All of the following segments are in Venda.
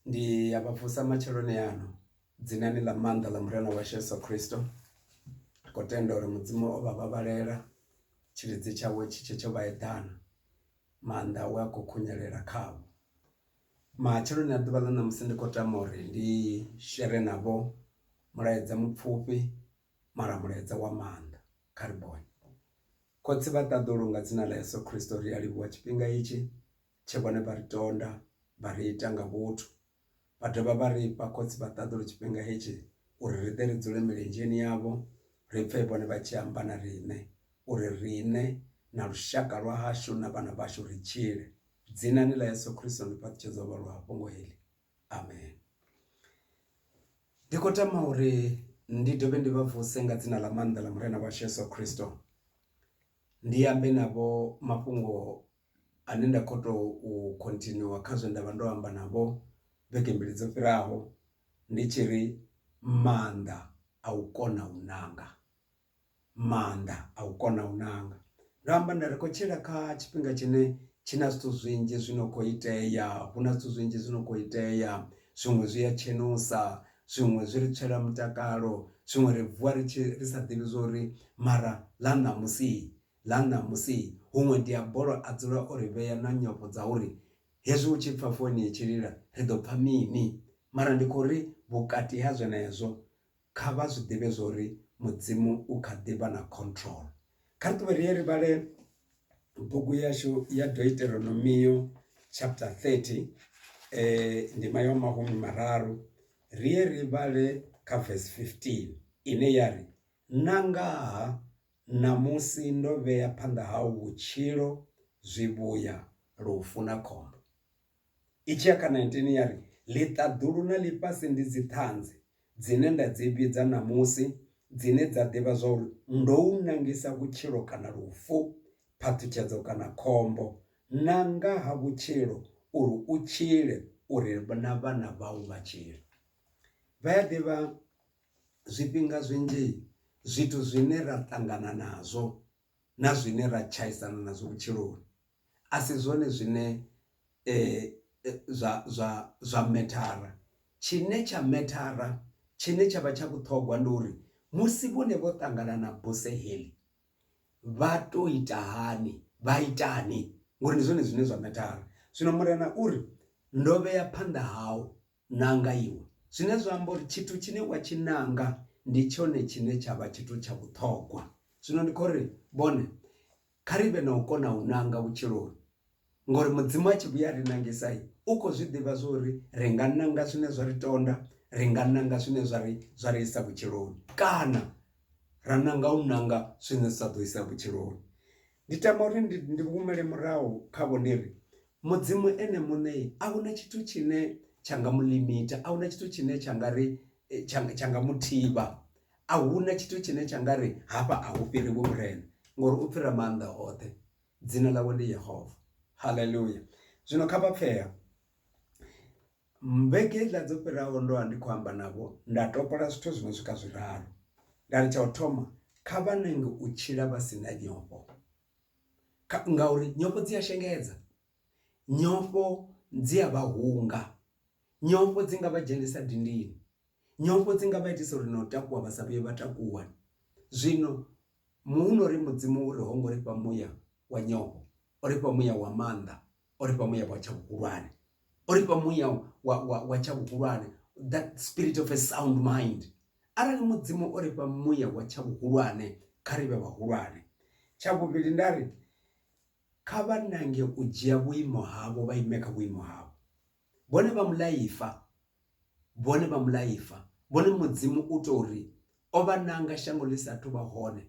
Ndi a vha vusa matsheloni ano dzinani ḽa maanḓa ḽa Murena washu Yeso Khristo ri khou tenda uri mudzimu o vha vhavhalela tshilidzi tshawe tshi tshe tsho vha eḓana maanḓa awe a kho khunyelela khavho. Matsheloni a ḓuvha ḽa ṋamusi ndi khou tama uri ndi shere navho mulaedza mupfhufhi mara mulaedza wa maanḓa kha ri bone khotsi vha ṱaḓulu nga dzina ḽa Yeso Khristo ri a livhuwa tshifhinga itshi tshe vhone vha ri tonda vha ri ita nga vhuthu, vha dovha vha ri fha khotsi vha ṱaḓulu tshifhinga hetshi uri ri ḓe ri dzule milenzheni yavho ri pfe vhone vha tshi amba na riṋe uri riṋe na lushaka lwa hashu na vhana vhashu ri tshile. Dzinani ḽa Yeso Khristo ndi fhaṱutshedza uvha luhafhungo heḽi. Amen. Ndi khou tama uri ndi dovhe ndi vha vuse nga dzina ḽa maanḓa ḽa Murena washu Yeso Khristo. Ndi ambe navho mafhungo ane nda kho to khontinua kha zwe nda vha ndo amba navho vhege mbili dzo fhiraho ndi tshi ri maanḓa a u kona u ṋanga maanḓa a u kona u ṋanga. Ndo amba nda ri khou tshila kha tshifhinga tshine tshi na zwithu zwinzhi zwi no kho itea hu na zwithu zwinzhi zwi no kho itea zwiṅwe zwi a tshenusa zwiṅwe zwi ri tswela mutakalo zwiṅwe ri vuwa ri tshi ri sa ḓivhi zwori mara ḽa ṋamusi ḽa ṋamusi, huṅwe Diabolo a dzula o ri vhea na nyofho dza uri hezwi hu tshi pfa foini i tshi lila ri ḓo pfa mini. Mara ndi khou ri vhukati ha zwenezwo, kha vha zwi ḓivhe zwa uri Mudzimu u kha ḓi vha na control. Kha ri ṱuwe ri ye ri vhale bugu yashu ya Doiteronomio chapter 30 ndima ya mahumi mararu, ri ye ri vhale kha verse 15 ine ya ri, Na ngaha Ṋamusi ndo vhea phanḓa hau vhutshilo, zwivhuya, lufu na khombo. I tshi ya kha 19 ya ri, Ḽiṱaḓulu na ḽifhasi ndi dziṱhanzi dzine nda dzi vhidza ṋamusi, dzine dza ḓivha zwa uri ndo u nangisa vhutshilo kana lufu, phaṱhutshedzo kana khombo. Nanga ha vhutshilo uri u tshile, uri na vhana vhau vha tshile. Vha ya ḓivha Zwifhinga zwinzhi zwithu zwine ra ṱangana nazwo na zwine ra tshaisana nazwo vhutshiloni a si zwone zwine zwa zwa zwa methara, tshine tsha methara tshine tshavha tsha vhuṱhogwa ndi uri musi vhone vho ṱangana na buse heḽi vha to ita hani vha itani ngori ndi zwone zwine zwa methara. Zwino Murena uri ndo vhea phanḓa hau nanga iwe. Zwine zwa amba uri tshithu tshine wa tshi nanga ndi tshone tshine tsha vha tshithu tsha vhuṱhogwa. Zwino ndi khou ri vhone, kha ri vhe na u kona u nanga vhutshiloni ngori Mudzimu a tshi vhuya a ri nangisa, u khou zwi ḓivha zwo ri ri nga nanga zwine zwa ri tonda, ri nga nanga zwine zwa ri zwa ri isa vhutshiloni kana ra nanga u nanga zwine zwa sa ḓo isa vhutshiloni. Ndi tama uri ndi humele murahu khavho ndi ri Mudzimu ene muṋe a hu na tshithu tshine tsha nga mu limiter, a hu na tshithu tshine tsha nga ri tsha tsha nga mu thivha, a hu na tshithu tshine tsha nga ri hafha a hu fhiri vhurena ngori u fhira maanḓa oṱhe. Dzina ḽawe ndi Yehova. Haleluya! Zwino kha vha pfee. Vhege iḽa dzo fhiraho ndo vha ndi khou amba navho nda topola zwithu zwi no swika zwiraru. Nda ri tsha u thoma, kha vha nange u tshila vha si na nyofho. ngauri nyofho dzi a shengedza nyofho dzi a vha hunga nyofho dzi nga vha dzhenisa dindini nyofho dzi nga vha itisa uri na u takuwa vha sa vhuye vha takuwa zwino muhuno uri mudzimu uri ho ngo ri fha muya wa nyofho o ri fha muya wa maanḓa o ri fha muya wa tsha vhuhulwane o ri fha muya wa wa wa tsha vhuhulwane that spirit of a sound mind arali mudzimu o ri fha muya wa tsha vhuhulwane kha ri vhe vhahulwane tsha vhuvhili nda ri kha vha nange u dzhia vhuimo havho vha ime kha vhuimo havho vhone vha mulaifa vhone vha mulaifa vhone mudzimu u tou ri o vha nanga shango ḽi sa thu vha hone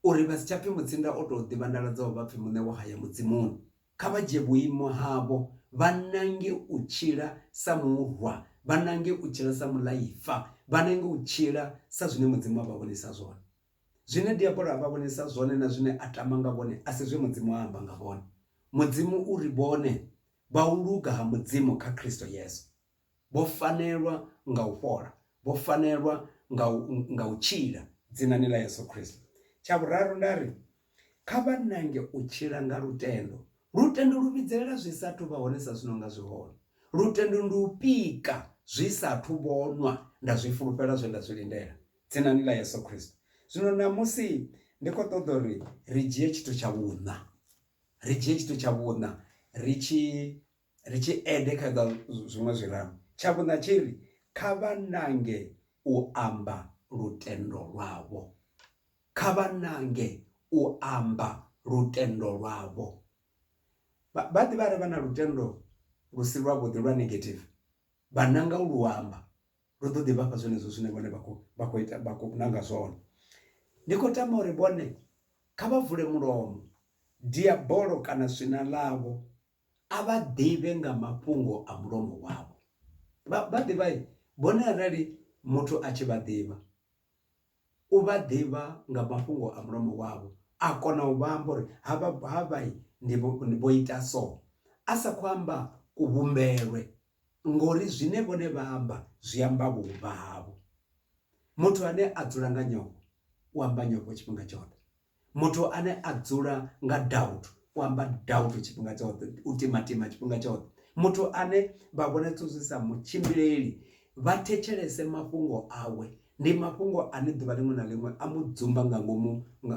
uri vha si tsha pfi mutsinda o tou ḓivhandaladzaho vha pfi muṋe wo haya mudzimuni. Kha vha dzhie vhuimo havho, vha nange u tshila sa murwa, vha nange u tshila sa muḽaifa, vha nange u tshila sa zwine Mudzimu a vha vhonisa zwone. Zwine Diabolo a vha vhonisa zwone na zwine a tama nga vhone a si zwe Mudzimu a amba nga vhone. Mudzimu u ri vhone vha u luga ha Mudzimu kha Kristo Yesu. vho fanelwa nga u fhola, vho fanelwa nga u, nga u tshila dzinani ḽa Yesu Kristo. Tsha vhuraru nda ri, Kha vha nange u tshila nga lutendo. Lutendo lu vhidzelela zwi sa athu vha hone sa zwi no nga zwi hone. Lutendo ndi u pika zwi sa athu vhonwa, nda zwi fulufhela zwe nda zwi lindela, dzinani ḽa Yesu Kristo. Zwino ṋamusi ndi khou ṱoḓa uri ri dzhie tshithu tsha vhuṋa, ri dzhie tshithu tsha vhuṋa ri tshi Ri tshi ende kha dza zwiṅwe zwiraru, tsha vhuṋa tshi ri, Kha vha nange u amba lutendo lwavho. Kha vha nange u amba lutendo lwavho. Vha, vha ḓivha arali vha na lutendo lu si lwavhuḓi lwa negative, vha nanga u lu amba, lu ḓo ḓi vha fha zwenezwo zwine vhone vha khou, vha khou ita, vha khou nanga zwone. Ndi khou tama uri vhone kha vha vule mulomo, diabolo kana swina ḽavho a vha ḓivhe nga mafhungo a mulomo wavho. Vha vha ḓivha vhone arali muthu a tshi vha ḓivha u vha ḓivha nga mafhungo a mulomo wavho a kona u vha amba uri ha vha ha vha ndi vho ita so a sa kho amba ku vhumbelwe ngori zwine vhone vha amba zwi amba vhuvha havho. Muthu ane a dzula nga nyofho u amba nyofho tshifhinga tshoṱhe Muthu ane a dzula nga doubt u amba doubt tshifhinga tshoṱhe u timatima tshifhinga tshoṱhe muthu ane vha vhona zwithu zwi sa mu tshimbileli vha thetshelese mafhungo awe ndi mafhungo ane ḓuvha ḽiṅwe na ḽiṅwe a mu dzumba nga ngomu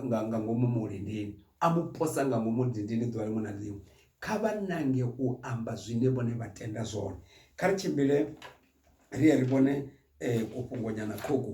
nga ngomu mulindini a mu posa nga ngomu dindini ḓuvha ḽiṅwe na ḽiṅwe kha vha nange u amba zwine vhone vha tenda zwone kha ri tshimbile ri ye ri vhone kufhungo nyana ṱhukhu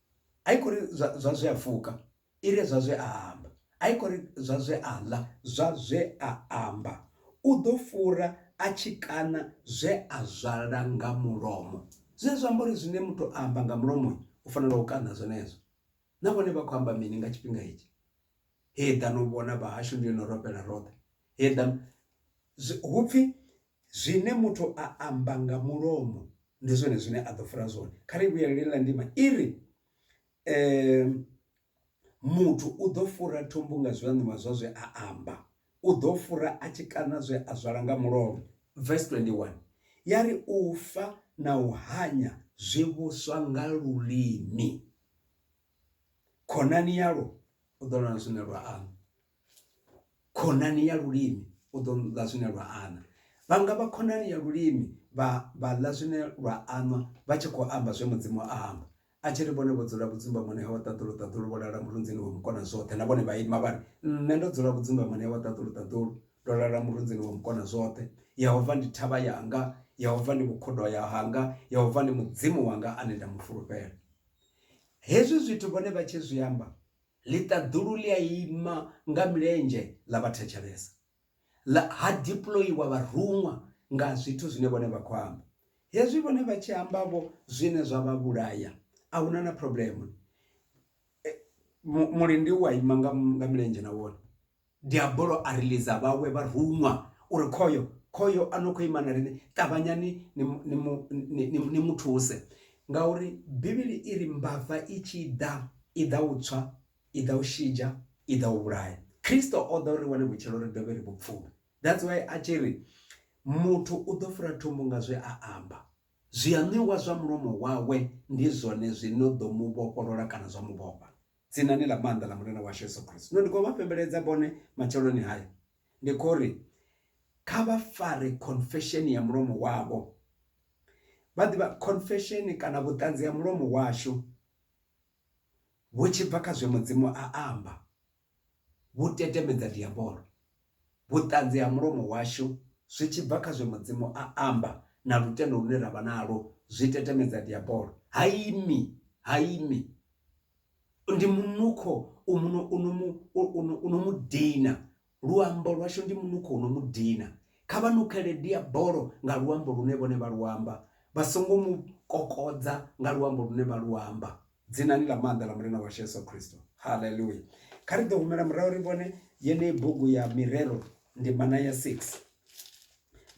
a i khou ri zwa zwa zwe a fuka i re zwa zwe a amba a i khou ri zwa zwe a ḽa zwa zwe a amba u ḓo fura a tshi kana zwe a zwala nga mulomo zwine zwa amba uri zwine muthu a amba nga mulomo u fanela u kana zwenezwo na vhone vha khou amba mini nga tshifhinga hetshi he ḓa no vhona vhahashu ndi yo no robela roṱhe he ḓa hupfi Zwine muthu a amba nga mulomo ndi zwone zwine a ḓo fara zwone. Kha ri vhuyelele na ndima i ri, Muthu u ḓo fura thumbu nga zwiaṋiwa zwa zwe a amba, u ḓo fura a tshi kaṋa zwe a zwala nga mulomo. Vesi 21 ya ri, U fa na u hanya zwi vhuswa nga lulimi, khonani yalwo u ḓo lwa na zwine lwa amba. khonani ya lulimi u ḓo ḽa zwine lwa aṋwa vha nga vha khonani ya lulimi vha vha ḽa zwine lwa aṋwa vha tshi khou amba zwe mudzimu a amba a tshi ri vhone vho dzula vhudzumbamoni hawe ṱaḓulu ṱaḓulu vho lala murunzini wa mukona zwoṱhe na vhone vha ima vha ri nṋe ndo dzula vhudzumbamoni hawe ṱaḓulu ṱaḓulu ndo lala murunzini wa mukona zwoṱhe yehova ndi thavha yanga yehova ndi vhukhudo ya hanga yehova ndi mudzimu wanga ane nda mu fulufhela hezwi zwithu vhone vha tshi zwi amba Ḽiṱaḓulu ḽi a ima nga milenzhe ḽa vha thetshelesa, ḽa ha diploiwa vharuṅwa nga zwithu zwine vhone vha khou amba. Hezwi vhone vha tshi amba-vho zwine zwa vha vhulaya, a hu na na phurobuḽemu. Mulindi u a ima nga milenzhe na wone. Diabolo a ri lidza, vhawe vha ruṅwa uri, Khoyo! Khoyo a no khou ima na riṋe! Ṱavhanyani ni mu thuse! Ngauri Bivhili i ri, Mbava i tshi ḓa, i ḓa u tswa, i ḓa u shidzha, i ḓa u vhulaya. Kristo o ḓa uri ri wane vhutshilo, ri dovhe ri vhu pfume. That's why a tshi ri, Muthu u ḓo fura thumbu nga zwe a amba. Zwiaṋwiwa zwa mulomo wawe ndi zwone zwi no ḓo mu vhofholola kana zwa mu vhofha. Dzinani ḽa maanḓa ḽa Murena washu Yesu Kristo. Zwino ndi khou vha fhembeledza vhone matsheloni haya. Ndi khou ri, Kha vha fare confession ya mulomo wavho. Vha ḓivha, confession kana vhuṱanzi ha mulomo washu vhu tshi bva kha zwe Mudzimu a amba, vhu tetemedza diabolo. vhuṱanzi ha mulomo washu zwi tshi bva kha zwe Mudzimu a amba na lutendo lune ra vha nalwo zwi tetemedza Diabolo. Ha imi, ha imi. Ndi munukho u muno u no mu u no u no mu dina. Luambo lwashu ndi munukho u no mu dina. Kha vha nukhele Diabolo nga luambo lune vhone vha lu amba, vha songo mu kokodza nga luambo lune vha lu amba. dzinani ḽa maanḓa ḽa mulina washu yesu khristo halleluya kha ri ḓo humela murahu ri vhone yeneyi bugu ya mirero ndimana ya 6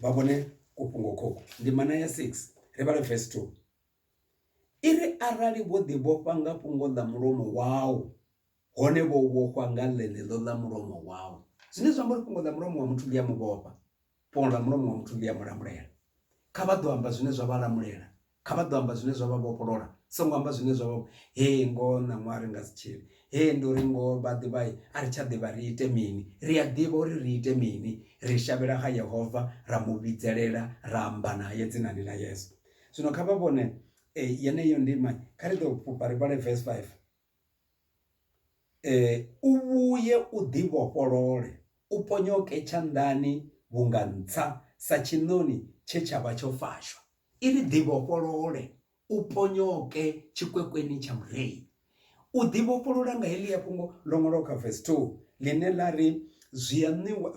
vha vhone kufhungo khokhu ndimana ya 6 ri vhale verse 2 i ri arali vho ḓi vhofha nga fhungo ḽa mulomo wau hone vho vhofhwa nga ḽeneḽo ḽa mulomo wau. Zwine zwa amba uri fhungo ḽa mulomo wa muthu ḽi a mu vhofha, fhungo ḽa mulomo wa muthu ḽi a mu lamulela. Kha vha ḓo amba zwine zwa vha lamulela, kha vha ḓo amba zwine zwa vha vhofholola, songo amba zwine zwa vha hee ngoho ṋaṅwaha ri nga si tshile, hee ndi uri ngoho vha ḓivha a ri tsha ḓivha ri ite mini. Ri a ḓivha uri ri ite mini, ri shavhela kha Yehova ra mu vhidzelela ra amba nae dzinani ḽa Yesu. Zwino kha vha vhone yeneyo ndima, kha ri tou fhufha ri vhale vese 5. U vhuye u ḓivhofholole, u ponyoke tshanḓani vhunga ntsha sa tshiṋoni tshe tsha vha tsho fashwa. I ri, Ḓivhofholole, u ponyoke tshikwekweni tsha murei. U ḓivhofholola nga heḽia fhungo ḽo ṅwalwaho kha vesi 2 ḽine ḽa ri, Zwi a ṋewa,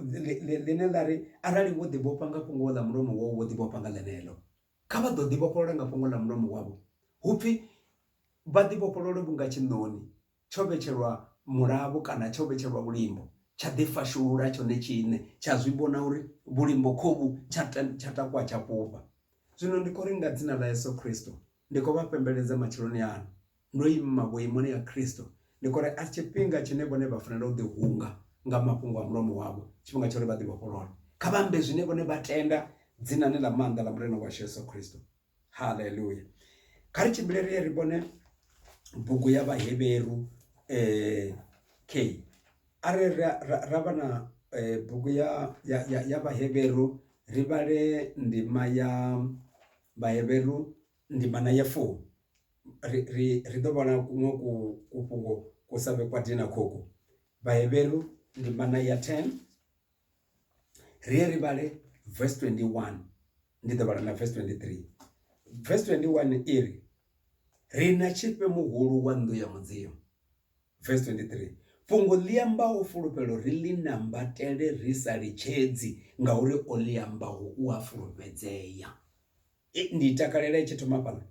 ḽine ḽa ri, Arali wo ḓivhofha nga fhungo ḽa mulomo wau, wo ḓivhofha nga ḽeneḽo. Kha vha ḓo ḓivhofholola nga fhungo ḽa mulomo wavho, hu pfi, Vha ḓivhofholole vhunga tshiṋoni tsho vhetshelwa mulavho kana tsho vhetshelwa vhulimbo, tsha ḓifhashulula tshone tshiṋe, tsha zwi vhona uri vhulimbo khovhu, tsha tsha takuwa tsha fhufha. Zwino ndi khou ri nga Dzina ḽa Yesu Kristo, ndi khou vha fhembeledza matsheloni ano, ndo ima vhuimoni ha Kristo, ndi khou ri a si tshifhinga tshine vhone vha fanela u ḓihunga nga mafhungo a mulomo wavho, tshifhinga tsha uri vha ḓivhofholole. Kha vha ambe zwine vhone vha tenda dzinani ḽa maanḓa ḽa Murena washu Yesu Kristo. Haleluya! Kha ri tshimbile ri ye ri vhone bugu ya Vhahevheru eh, k are ra, ra, ra vha na eh, bugu ya, ya, ya, ya Vhahevheru ri vhale ndima ya Vhahevheru ndima na ya fumi ri, ri, ri ḓo vhona kuṅwe ku, kufhungo ku sa vhe kwa dina khoku. Vhahevheru ndimana ya 10 ri ye ri vhale verse 21 ndi ḓo vhala na verse 23 verse 21 i ri ri na tshifhe muhulu wa nnḓu ya mudzimu verse 23 fhungo ḽi ambaho fulufhelo ri ḽi nambatele ri sa litshedzi ngauri o ḽi ambaho u a fulufhedzea I, ndi i takalela i tshi thoma fhaḽa,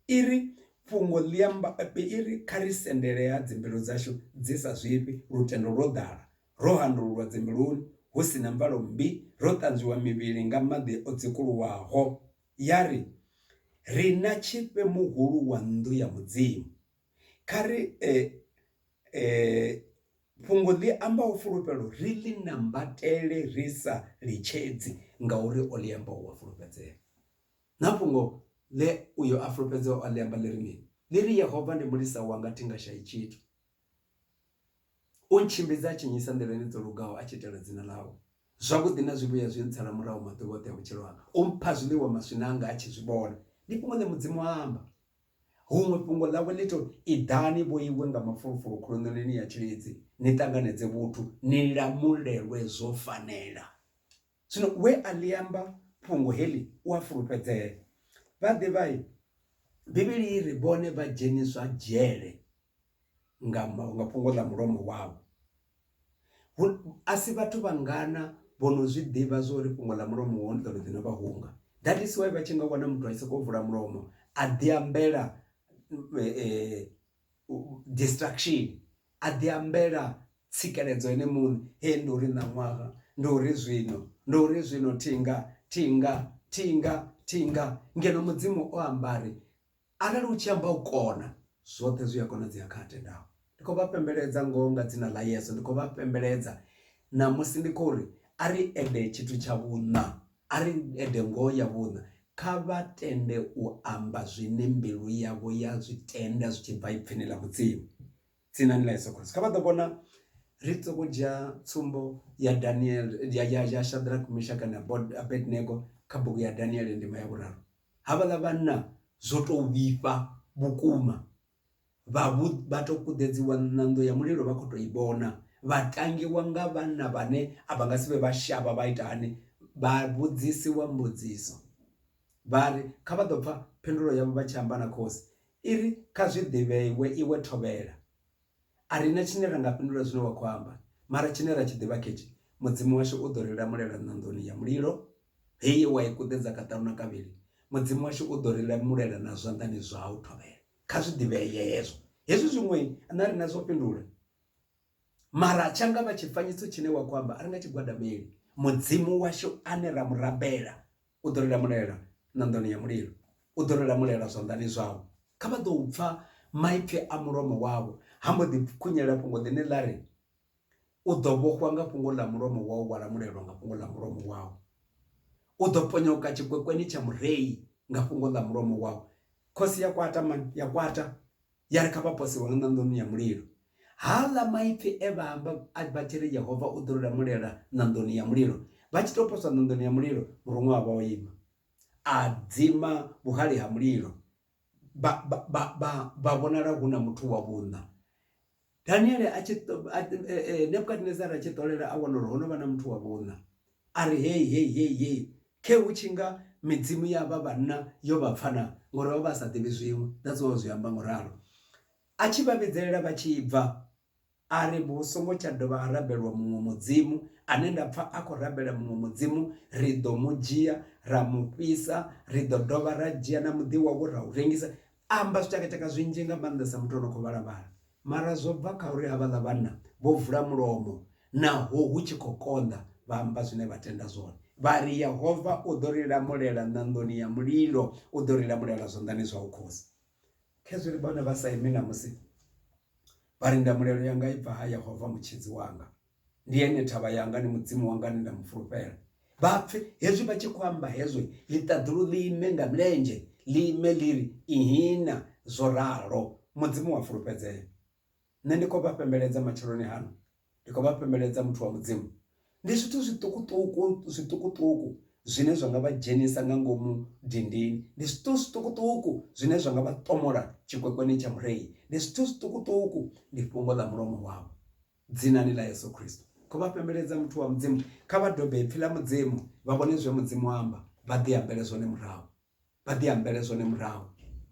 i ri, Fhungo ḽi amba, i ri, Kha ri sendele ha dzimbilu dzashu dzi sa zwifhi, lutendo lwo ḓala, ro handululwa dzimbiluni, hu si na mvalo mmbi, ro ṱanzwiwa mivhili nga maḓi o dzikuluwaho. Ya ri, Ri na Tshifhe Muhulu wa nnḓu ya Mudzimu. Kha ri fhungo ḽi amba u fulufhelo ri ḽi nambatele ri sa litshedzi ngauri o ḽi amba u a fulufhedzea. Na fhungo ḽe uyo a fulufhedzeaho a ḽi amba ḽi ri mini? Ḽi ri Yehova ndi mulisa wanga thi nga shai tshithu, u ntshimbidza a tshi nnyisa nḓilani dzo lugaho a tshi itela dzina ḽawe. Zwavhuḓi na zwivhuya zwi ntsala murahu maḓuvha oṱhe a vhutshilo hanga, u mpha zwiḽiwa maswina anga a tshi zwi vhona. Ndi fhungo ḽe Mudzimu a amba. Huṅwe fhungo ḽawe ḽi tou, Iḓani vhoiwe nga mafulufulu khuluṋonini ya tshilidzi, ni ṱanganedze vhuthu, ni lamulelwe zwo fanela. Zwino we a ḽi amba fhungo heḽi u a fulufhedzea. Vhaḓivhai Bivhili i ri vhone vha dzheniswa dzhele. nga nga fhungo ḽa mulomo wavho. Asi vhathu vhangana vho no zwiḓivha zwa uri fhungo ḽa mulomo wau ḽiḓo ḽiḓi novha hunga that is why vha tshi nga wana muthu a tshi soko vula mulomo a ḓi ambela distraction a ḓi ambela tsikeledzo ene muṋe hee ndi uri ṋaṅwaha ndi uri zwino ndi uri zwino thinga thinga thinga thinga ngeno mudzimu o ambari. Arali u tshi amba u kona, zwoṱhe zwi a konadzea kha a tendaho. Ndi khou vha fhembeledza ngoho nga dzina ḽa Yesu, ndi khou vha fhembeledza ṋamusi ndi khou ri a ri ede tshithu tsha vhuṋa, a ri ede ngoho ya vhuṋa. Kha vha tende u amba zwine mbilu yavho ya zwi tenda zwi tshi bva Ipfini ḽa Mudzimu, Dzinani ḽa Yesu Kristo. Kha vha ḓo vhona, ri sokou dzhia tsumbo ya Daniel, ya Shadrack, Mishaki na Abednego kha bugu ya Daniel ndima ya vhuraru. havhaḽa vhanna zwo to vhifha vhukuma vha vhu vha to kuḓedziwa ṋando ya mulilo vha khou tou i vhona vha tangiwa nga vhanna vhane a vha nga si vhe vha shavha vha ita hani vha vhudzisiwa mbudziso vha ri kha vha ḓo pfha phindulo yavho vha tshi amba na khosi i ri kha zwi ḓivheiwe iwe thovhela A ri na tshine ra nga fhindula zwine wa khou amba, mara tshine ra tshi ḓivha ketshi, Mudzimu washu u ḓo ri lamulela ṋanḓoni ya mulilo, he ye wa i kuḓedza kaṱanu na kavhili. Mudzimu washu u ḓo ri lamulela na zwanḓani zwau, thovhele. Kha zwi ḓivhee hezwo. Hezwi zwiṅwe na riṋe zwo fhindula, mara tsha nga vha tshifanyiso tshine wa khou amba a ri nga tshi gwadameli. Mudzimu washu ane ra mu rabela u ḓo ri lamulela ṋanḓoni ya mulilo u ḓo ri lamulela zwanḓani zwau kha vha ḓo u pfha maipfi a mulomo wavho ha mbo ḓi khunyela fhungo ḽine ḽa ri u ḓo vhofhwa nga fhungo ḽa mulomo wau wa lamulelwa nga fhungo ḽa mulomo wau u ḓo ponyoka tshikwekweni tsha murei nga fhungo ḽa mulomo wau khosi ya kwata mani ya kwata ya ri kha vha pose hone ṋanḓoni ya mulilo. Haaḽa maipfi e vha amba vha tshi ri Yehova u ḓo ri lamulela ṋanḓoni ya mulilo, vha tshi tou poswa ṋanḓoni ya mulilo, muruṅwa a vha o ima, a dzima vhuhali ha mulilo, vha vhonala hu na muthu wa vhuṋa. Daniele a tshi Nebukadnezar a tshi ṱolela a wana uri ho no vha na muthu wa vhunna a ri hei hei hei hei khe hu tshi nga midzimu ya vha vhanna yo vha pfana ngori vha vha sa ḓivhi zwiṅwe that's why zwi amba ngo ralo a tshi vha vhidzelela vha tshi bva a ri vhu songo tsha dovha ha rabelwa muṅwe mudzimu ane nda pfha a khou rabela muṅwe mudzimu ri ḓo mu dzhia ra mu fhisa ri ḓo dovha ra dzhia na muḓi wawe ra u rengisa A amba zwitshakatshaka zwinzhi nga maanḓesa muthu o no khou vhala-vhala. Mara zwo bva kha uri havhaḽa vhanna vho vula mulomo naho hu tshi khou konḓa, vha amba zwine vha tenda zwone. Vha ri, Yehova u ḓo ri lamulela ṋanḓoni ya mulilo, u ḓo ri lamulela zwanḓani zwau khosi. Khezwi ri vhone vha Saime ṋamusi, vha ri, Ndamulelo yanga i bva ha Yehova Mutshidzi wanga. ndi ene thavha yanga ndi mudzimu wanga ane nda mu fulufhela vha pfe hezwi vha tshi khou amba hezwo ḽiṱaḓulu ḽi ime nga milenzhe ḽi ime ḽi ri ihina zwo ralo mudzimu wa fulufhedzea nṋe ndi khou vha fhembeledza matsheloni hano ndi khou vha fhembeledza muthu wa mudzimu ndi zwithu zwiṱukuṱuku zwiṱukuṱuku zwine zwa nga vha dzhenisa nga ngomu dindini ndi zwithu zwiṱukuṱuku zwine zwa nga vha ṱomola tshikwekwene tsha mureyi ndi zwithu zwiṱukuṱuku ndi fhungo ḽa mulomo wavho Dzinani ḽa Yesu Kristo. Kho vha fhembeledza muthu wa Mudzimu. Kha vha dobe ipfi ḽa Mudzimu, vha vhone zwe Mudzimu a amba, vha ḓi ambele zwone murahu. Vha ḓi ambele zwone murahu.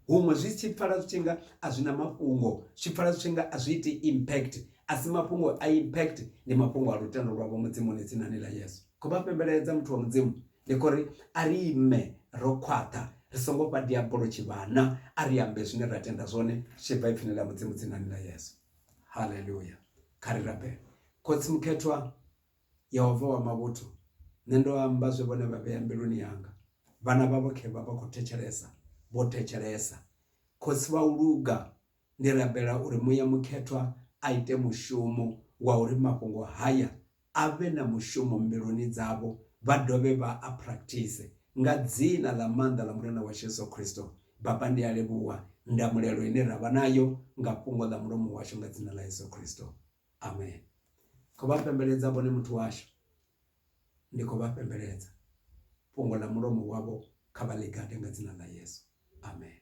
Huṅwe zwi tshi pfala zwi tshi nga a zwi na mafhungo, zwi pfala zwi tshi nga a zwi iti impact. A si mafhungo a impact, ndi mafhungo a lutendo lwavho Mudzimuni dzinani ḽa Yesu. Kho vha fhembeledza muthu wa Mudzimu. Ndi khou ri a ri ime ro khwaṱha, ri songo fha diabolo tshivhana, a ri ambe zwine ra tenda zwone zwi tshi bva ipfini ḽa Mudzimu dzinani ḽa Yesu. haleluya kha ri rabele khotsi mukhethwa yehova wa mavhuthu nṋe ndo amba zwe vhone vha vhea mbiluni yanga vhana vhavho khe vha vha khou thetshelesa vho thetshelesa khotsi vha u luga ndi rabela uri muya mukhethwa a ite mushumo wa uri mafhungo haya a vhe na mushumo mbiluni dzavho vha dovhe vha a practice. Nga dzina ḽa maanḓa ḽa Murena washu Yesu Kristo, Baba ndi a livhuwa ndamulelo ine ra vha nayo nga fhungo ḽa mulomo washu nga dzina ḽa Yesu Kristo. Amen. Khou vha pembeledza vhone muthu washu. Ndi khou vha pembeledza. Fhungo ḽa mulomo wavho kha vha ḽi gade nga dzina ḽa Yesu. Amen.